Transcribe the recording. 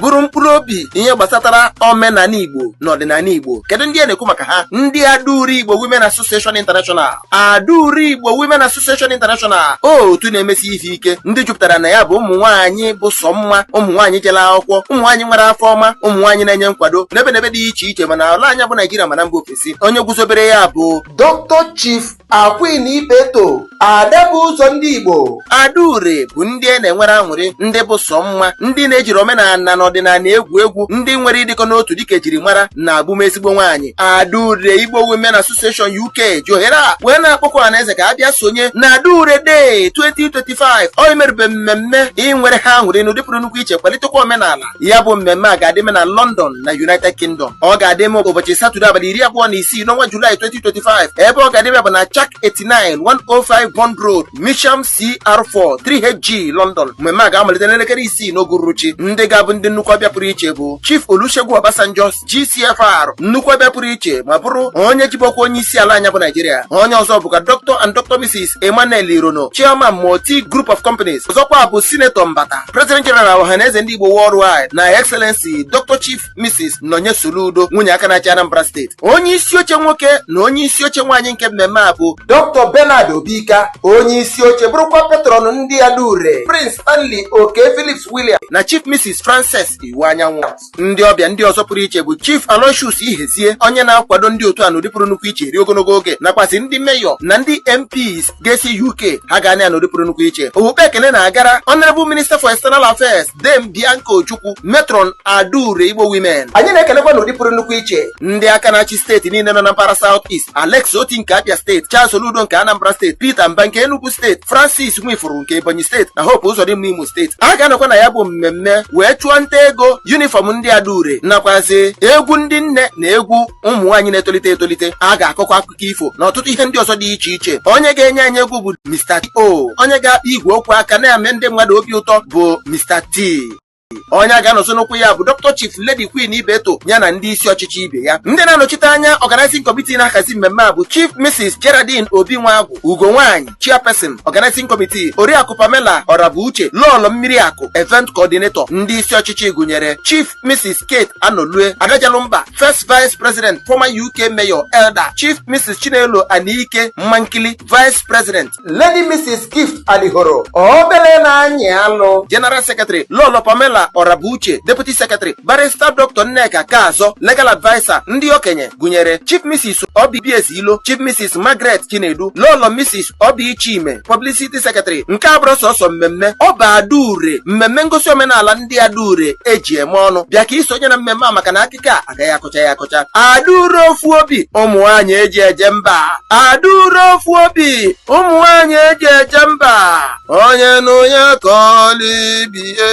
bụrụ mkpụrụ obi ihe gbasatara omenala igbo na ọdịnala igbo kedu ndị a na-ekwu maka ha ndị adaure igbo women association international adaure igbo women association international otu na-emesi ife ike ndị jupụtara na ya bụ ụmụ nwaanyị bụ sọ mma ụmụ nwaanyị jere akwụkwọ ụmụ nwaanyị nwere afọ ọma ụmụ nwaanyị na-enye nkwado n'ebe n'ebe dị iche iche ma n'ala anyị bụ naijiria ma na mba ofesi onye guzobere ya bụ dr chief Queen Ibeto ada bu ụzọ ndị Igbo adaure bụ ndị a na-enwere aṅụrị ndị bụ sọ mma ndị na-ejighị omenala na ọdịnala egwu egwu ndị nwere ịdịkọ n'otu dịka ejiri mara na abụ m ezigbo nwaanyị adaure Igbo Women Association UK ji ohere a wee na-akpọku ọhaneze ka a bịa sonye na adaure Day 2025 wee merube mmemme inwere ha aṅụrị n'ụdị pụrụ nnukwu iche kwalitekwa omenala ya bụ mmemme a ga-adịme na London na United Kingdom ọ ga-adịme ụbọchị Satọde abalị iri abụọ na isii n'ọnwa Julaị 2025 ebe ọ ga-adịme bụ na Chak 89 105 Bond Road Mitcham CR4 3HG London mmemme a ga-amalite n'elekere isii n'oge uhuruchi ndị ga-abụ ndị nnukwu ọbịa pụrụ iche bụ Chief Olusegun Obasanjo GCFR nnukwu ọbịa pụrụ iche ma bụrụ onye jibu ọkwa onye isi ala anyị bụ Naijiria onye ọzọ bụkwa Dr and Dr Mrs Emmanuel Irono chairman Motir Group of Companies ọzọkwa bụ sinetọ Mbata President General Ọhaneze ndị Igbo Worldwide na Excellency Dr Chief Mrs Nonye Soludo nwunye aka na-achị Anambra steeti onye isi oche nwoke na onye isi oche nwaanyị nke mmemme a bụ Dr Bernard Obika onye isi oche bụrụkwa patron ndị Adaure Prince Stanley Oke Phillips William na Chief Mrs Frances Iwuanyanwụ ndị ọbịa ndị ọzọ pụrụ iche bụ Chief Aloysius Ihezie onye na-akwado ndị otu a n'ụdị pụrụ nnukwu iche eri ogologo oge nakwazị ndị meyọ na ndị MPs ga-esi UK ha ga-anọ ya n'ụdị pụrụ nnukwu iche okpukpu ekele na-agara Honorable Minister for External Affairs Dame Bianca Ojukwu Matron Adaure Igbo Women anyị na-ekelekwa n'ụdị pụrụ nnukwu iche ndị aka na-achị steeti niile nọ na mpaghara South East Alex Otti nke Abia steeti Charles Soludo nke Anambra steeti Peter Mbah nke Enugu steeti Francis Nwifuru nke Ebonyi steeti na Hope Uzodimma Imo steeti a ga-anọkwa na ya bụ mmemme wee chụọ nta ego yunifọm ndị adaure nakwazị egwu ndị nne na egwu ụmụ nwaanyị na-etolite etolite a ga-akọkwa akụkọ ifo na ọtụtụ ihe ndị ọzọ dị iche iche onye ga-enye anyị egwu bụ Mr. T.O onye ga-akpa igwe okwu aka na-eme ndị mmadụ obi ụtọ bụ Mr. T onye a ga-anọzi n'ụkwụ ya bụ Dr. Chief Lady Queen Ibeto ya na ndị isi ọchịchị ibe ya ndị na-anọchite anya Organizing Committee na-ahazi mmemme a bụ Chief Mrs. Geraldine Obi Nwagwu Ugo Nwaanyị Chairperson Organizing Committee Oriakụ Pamela Ọrabuche Lọọlọ Mmiri Akụ Event Coordinator ndị isi ọchịchị gụnyere Chief Mrs. Kate Anolue Adajalumba First Vice President former UK Mayor Elder Chief Mrs. Chinelo Anike Mmankili Vice President Lady Mrs. Gift Alihoro obele na-anyị alụ General Secretary Lọlọ Pamela Orabuche Deputy Secretary Barrister Dr. Nneka Kaazọ Legal Adviser ndị okenye gụnyere Chief Mrs. Obi BS Ilo Chief Mrs. Margaret Chinedu Lọlọ Mrs. Obi Chime Publicity Secretary nke abụrọ sọsọ mmemme ọ bụ Adaure mmemme ngosi omenala ndị Adaure eji eme ọnụ bịa ka i sonye na mmemme a maka na aka ike a agaghị akọcha ya akọcha Adaure ofu obi ụmụ nwaanyị eji eje mba Adaure ofu obi ụmụ nwaanyị eji eje mba onye na onye kọọlụ ibie